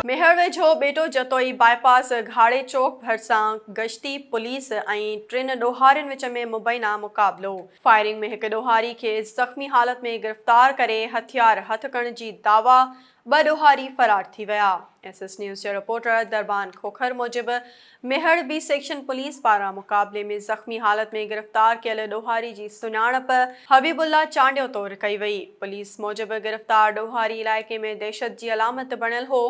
ميهڙ ويجهو ٻيٽو Jatoi bypass گهاڙي چوڪ ڀرسان گشتي پوليس ۽ ٽن ڏوهارين وچ ۾ مبينا مقابلو، فائرنگ ۾ هڪ ڏوهاري کي زخمي حالت ۾ گرفتار ڪري هٿيار هٿ ڪرڻ جي دعويٰ ٻه ڏوهاري فرار ٿي ويا. ايس ايس نيوز جي رپورٽر دربان کوکر موجب، ميهڙ بي سيڪشن پوليس پاران مقابلي ۾ زخمي حالت ۾ گرفتار ڪيل ڏوهاري جي سڃاڻپ حبيب الله چانڊيو طور ڪئي وئي. پوليس موجب گرفتار ڏوهاري علائقي ۾ دهشت جي علامت بڻيل هو،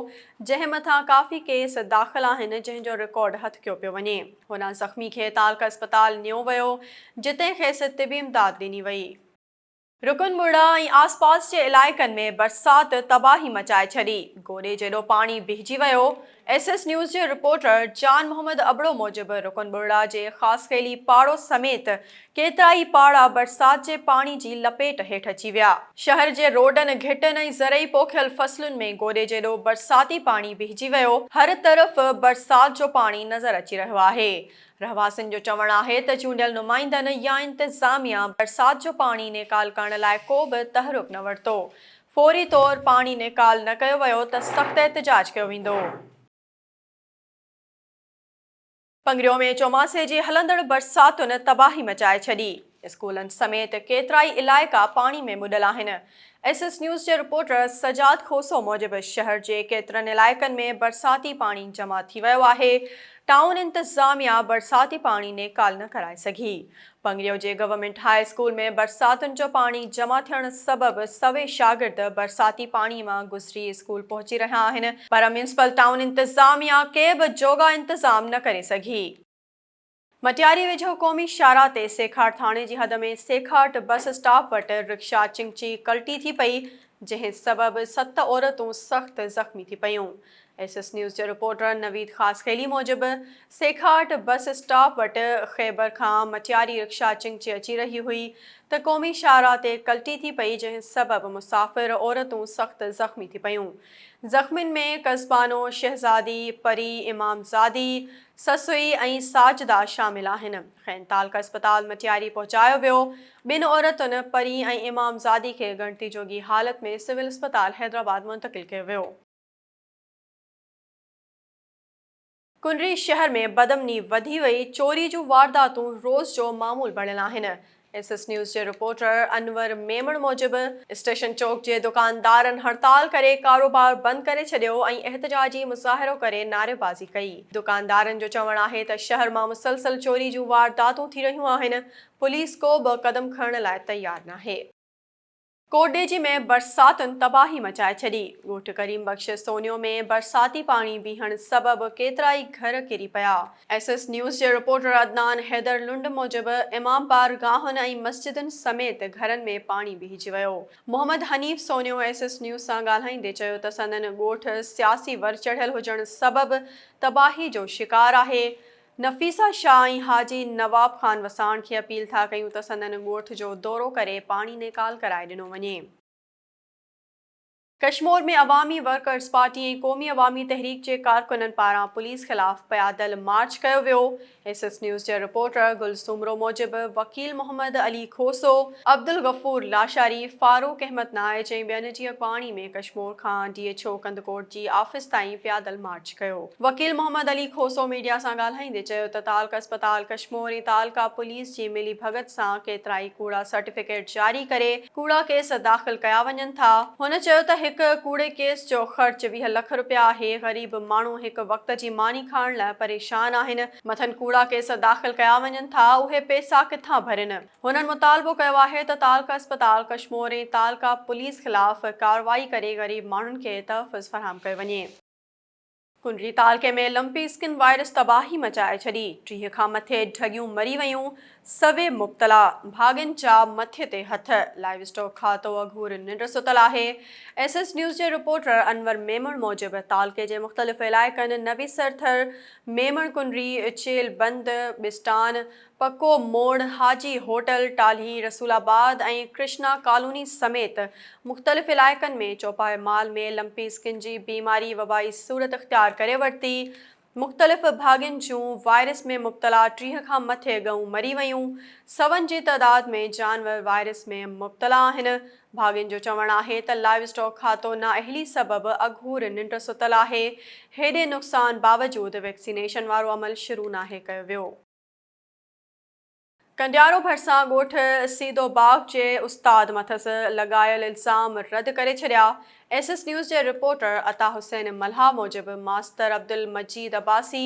جنهن مٿان ڪافي ڪيس داخل آهن، جنهن جو رڪارڊ هٿڪيو پيو وڃي. هن زخمي کي تعلقه اسپتال نيو ويو، جتي کيس طبي امداد ڏني وئي. رڪن مڙهه ۽ آسپاس جي علائقن ۾ برسات تباهي مچائي ڇڏي، گوڏي جيڏو پاڻي بهجي ويو، ايس ايس نيوز جي رپورٽر جان محمد ابڙو موجب رڪن مڙهه جي خاصخيلي پاڙو سميت ڪيترائي پاڙا برسات جي پاڻي جي لپيٽ هيٺ اچي ويا، شهر جي روڊن، گهٽن ۽ زرعي پوکيل فصلن ۾ گوڏي جيڏو برساتي پاڻي بهجي ويو، هر طرف برسات جو پاڻي نظر اچي رهيو آهي، رهواسين جو چوڻ آهي ته چونڊيل نمائندن يا انتظاميا برسات جو پاڻي نيڪال ڪرڻ لاء ڪو به تحرڪ نه ورتو، فوري طور پاڻي نيڪال نه ڪيو ويو ته سخت احتجاج ڪيو ويندو. پنگريو ۾ چوماسي جي هلندڙ برساتن تباهي مچائي ڇڏي. اسڪولن سميت ڪيترائي علائقا پاڻي ۾ ٻڏل آهن. ايس ايس نيوز جي رپورٽر سجاد کوسو موجب شهر جي ڪيترن علائقن ۾ برساتي پاڻي جمع ٿي ويو آهي، ٽائون انتظاميا برساتي پاڻي نيڪال نه ڪرائي سگهي. پنگريو جي گورنمينٽ هاء اسڪول ۾ برساتن جو پاڻي جمع ٿيڻ سبب سوين شاگرد برساتي پاڻي مان گذري اسڪول پهچي رهيا آهن، پر ميونسپل ٽائون انتظاميا ڪي به جوڳا انتظام نه ڪري سگهي. مٽياري ويجهو قومي شاهراهه تي سيکاٽ ٿاڻي جي حد ۾ سيکاٽ بس اسٽاپ وٽ رڪشا چنگچي ڪلٽي ٿي پئي جنهن سبب ست عورتون سخت زخمي ٿي پيون. ايس ايس نيوز جي رپورٽر نويد خاصخيلي موجب سيکاٽ بس اسٽاپ وٽ خيبر کان مٽياري رڪشا چنگچي اچي رهي هئي ته قومي شاهراهه تي ڪلٽي ٿي پئي جنهن سبب مسافر عورتون سخت زخمي ٿي پيون زخمين ۾ قصبانو شهزادي، پري امامزادي، سسئي ۽ ساجده شامل آهن. کين تعلقه اسپتال مٽياري پهچايو ويو. ٻن عورتن پرين ۽ امامزادي کي ڳڻتي جوڳي حالت ۾ سول اسپتال حيدرآباد منتقل ڪيو ويو. ڪنري شهر ۾ بدامني وڌي وئي، چوري جون وارداتون روز جو معمول بڻيل آهن، ايس ايس نيوز جي رپورٽر انور ميمڻ موجب اسٽيشن چوڪ جي دڪاندارن هڙتال ڪري ڪاروبار بند ڪري ڇڏيو ۽ احتجاجي مظاهرو ڪري نعريبازي ڪئي، دڪاندارن جو چوڻ آهي ته شهر مان مسلسل چوري جون وارداتون ٿي رهيون آهن، پوليس ڪو به قدم کڻڻ لاء تيار ناهي. ڪوٽڏيجي ۾ برساتن تباهي مچائي ڇڏي، ڳوٺ ڪريم بخش سونيو ۾ برساتي پاڻي بيهڻ سبب ڪيترائي گهر ڪري پيا. ايس ايس نيوز جي رپورٽر عدنان حيدر لنڊ موجب امام بار گاهن ۽ مسجدن سميت گهرن ۾ پاڻي بيهجي ويو. Muhammad Hanif Sonio S S news سان ڳالهائيندي چيو ته سندن ڳوٺ سياسي ور چڙهيل هجڻ سبب تباهي جو شڪار آهي، نفيسه شاهه ۽ حاجي نواب خان وساڻ کي اپيل ٿا ڪيون ته سندن ڳوٺ جو دورو ڪري پاڻي نيڪال ڪرائي ڏنو وڃي. ڪشمور ۾ عوامي ورڪرز پارٽي ۽ قومي عوامي تحريڪ جي ڪارڪنن پاران پوليس خلاف پيادل مارچ ڪيو ويو ايس ايس نيوز جي رپورٽر گل سومرو موجب وڪيل محمد علي کوسو، عبدالغفور لاشاري، فاروق احمد نائچ ۽ ٻين جيئي پاڻي ۾ ڪشمور کان ڊي ايڇ او ڪنڌڪوٽ جي آفيس تائين پيادل مارچ ڪيو. وڪيل محمد علي کوسو ميڊيا سان ڳالهائيندي چيو ته تعلقه اسپتال ڪشمور ۽ تعلقه پوليس جي ملي ڀڳت سان ڪيترائي ڪوڙا سرٽيفڪيٽ جاري ڪري ڪوڙا ڪيس داخل ڪيا وڃن ٿا. هن چيو ته هڪ ڪوڙي ڪيس جو خرچ ويهه لک رپيا آهي، غريب ماڻهو هڪ وقت جي ماني کائڻ لاء پريشان آهن، مٿن ڪوڙا ڪيس داخل ڪيا وڃن ٿا، اهي پيسا ڪٿان ڀرين. هنن مطالبو ڪيو آهي ته تعلقه اسپتال ڪشمور ۽ تعلقه پوليس خلاف ڪارروائي ڪري غريب ماڻهن کي تحفظ فراهم ڪيو وڃي. ڪنري تعلقي ۾ لمپي اسڪن وائرس تباهي مچائي ڇڏي، ٽيهه کان مٿي ڍڳيون مري ويون، سوين مبتلا، ڀاڳين جا مٿي تي هٿ، لائيو اسٽاڪ کاتو اگهور ننڊ ستل آهي، ايس ايس نيوز جي رپورٽر انور ميمڻ موجب تعلقي جي مختلف علائقن نويسرٿر، ميمڻ ڪنري، چيل بند، ٻسٽان، پڪو موڙ، حاجي هوٽل، ٽالهي، رسول آباد ۽ ڪرشنا ڪالوني سميت مختلف علائقن ۾ چوپائي مال ۾ لمپي سڪن جي بيماري وبائي صورت اختيار ڪري ورتي، مختلف ڀاڳين جون وائرس ۾ مبتلا ٽيهه کان مٿي ڳئون مري ويون، سون جي تعداد ۾ جانور وائرس ۾ مبتلا آهن، ڀاڳين جو چوڻ آهي ته لائيو اسٽاڪ کاتو نااهلي سبب اگهور ننڊ ستل آهي، هيڏي نقصان باوجود ويڪسينيشن وارو عمل شروع ناهي ڪيو ويو. ڪنڊيارو ڀرسان ڳوٺ سيدو باغ جي استاد مٿس لڳايل الزام رد ڪري ڇڏيا، ايس ايس نيوز جي رپورٽر عطا حسين ملاح موجب master Abdulmajeed Abbasi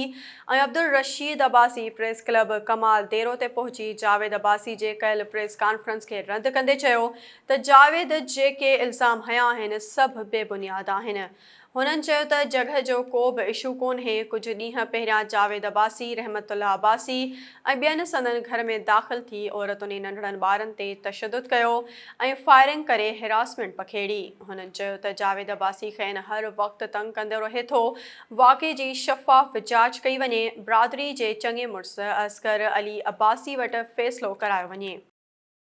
۽ Abdulrasheed Abbasi press club Kamal Dero تي پهچي جاويد عباسي جي ڪيل پريس ڪانفرنس کي رد ڪندي چيو ته جاويد جيڪي الزام هنيا آهن سڀ بي بنياد آهن هنن چيو ته جڳهه جو ڪو به اشو ڪونهي، ڪجهه ڏينهن پهريان جاويد عباسي، رحمت الله عباسي ۽ ٻين سندن گهر ۾ داخل ٿي عورتن ۽ ننڍڙن ٻارن تي تشدد ڪيو ۽ فائرنگ ڪري هراسمينٽ پکيڙي. هنن چيو ته جاويد عباسي کين هر وقت تنگ ڪندو رهي ٿو، واقعي جي شفاف جاچ ڪئي وڃي، برادري جي چڱي مڙس اصغر علي عباسي وٽ فيصلو ڪرايو وڃي.